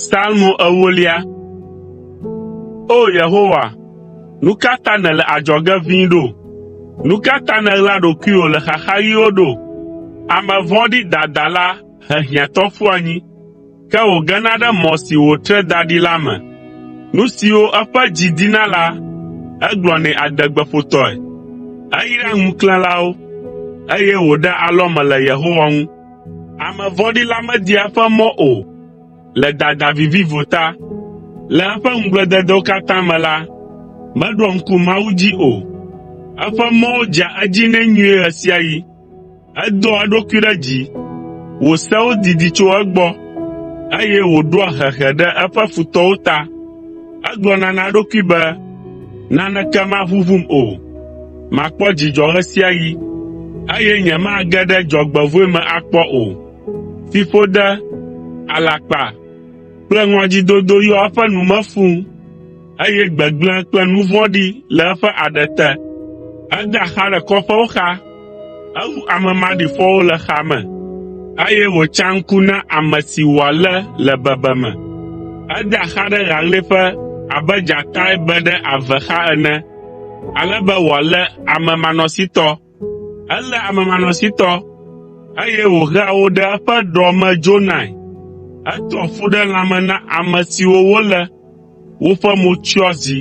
Salmo ewolia. O Yehowa, nu ka ta nèle adzɔge ʋĩi ɖo? Nu ka ta nèɣla ɖokuiwò le xaxaɣiwo ɖo? Ame vɔ̃ɖi dadala he hiãtɔ ƒua anyi. ke wògena ɖe mɔ si wòtre da ɖi la me. Nu siwo eƒe dzi dina la, egblɔnɛ adegbeƒotɔe. Eyraa ŋuklẽlawo, eye wòɖea alɔme le Yehowa ŋu. Ame vɔ̃ɖi la media eƒe mɔ o le dada vivivo ta. Le eƒe ŋugblededewo katã me la, meɖoa ŋku Mawu dzi o. Eƒe mɔwo dzea edzi nɛ nyuie ɣe sia ɣi. Edoa eɖokui ɖe dzi, wò sewo didi tso egbɔ, eye wòɖoa hehe ɖe eƒe futɔwo ta. Egblɔna na eɖokui be, “Naneke maʋuʋum o. Makpɔ dzidzɔ ɣe sia ɣi, eye nyemage ɖe dzɔgbevɔ̃e me akpɔ o.” Fiƒode, alakpa kple ŋɔdzidodo yɔa eƒe nu me fũu. eye gbegblẽ kple nu vɔ̃ɖi le eƒe aɖe te. Edea xa le kɔƒewo xa, ewu ame maɖifɔwo le xaa me, eye wòtsa ŋku na ame si wòalé le bebeme. Edea xa ɖe ɣaɣlɛƒe abe dzatae be ɖe ave xa ene, ale be wòalé ame manɔsitɔ. Eléa amemanɔsitɔ, eye wòhea wo ɖe eƒe ɖɔ me dzonae. Edoa fu ɖe lãme na ame siwo wolé, woƒe mo tsyɔa zi,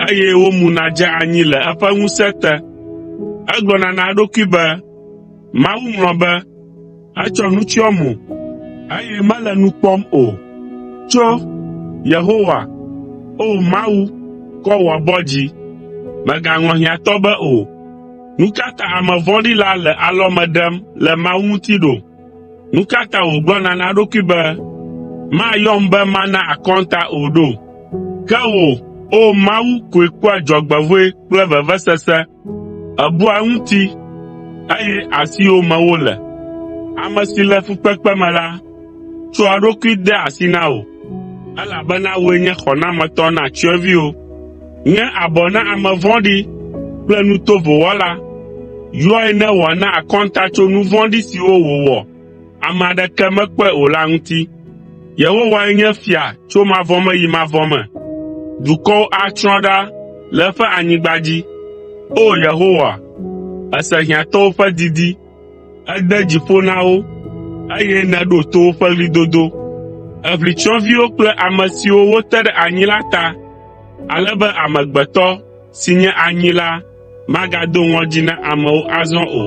eye womuna dzea anyi le eƒe ŋusẽ te. Egblɔna na eɖokui be, “Mawu ŋlɔ be.” Etsɔ nu tsyɔ mo, eye mele nu kpɔm o. Tso, Yehowa, O Mawu, kɔ wò abɔ dzi. Mègaŋlɔ hiãtɔ be o. Nu ka ta ame vɔ̃ɖi la le alɔme ɖem le Mawu ŋuti ɖo? Nu ka ta wògblɔna na eɖokui be, “Mayɔm be mana akɔnta o ɖo?” Ke wò, O Mawu, koe kpɔa dzɔgbevɔ̃e kple vevesese. Èbua eŋuti, eye asiwò me wole. Ame si le fukpekpe me la, tsɔa eɖokui dea asi na wò, elabena wòe nye xɔnametɔ na tsyɔ̃eviwo. Nye abɔ na ame vɔ̃ɖi kple nu tovo wɔla, yɔe ne wòana akɔnta tso nu vɔ̃ɖi siwo wòwɔ. ame aɖeke mekpɔe o la ŋuti. Yehowae nye fia tso mavɔ me yi mavɔ me. Dukɔwo atsrɔ̃ ɖa le eƒe anyigba dzi. O! Yehowa, èse hiãtɔwo ƒe didi, ède dzi ƒo na wo, eye nèɖo to woƒe ɣlidodo. Èʋli tsyɔ̃eviwo kple ame siwo wote ɖe anyi la ta, ale be amegbetɔ, si nye anyi la, Magado ŋɔdzi na amewo azɔ o.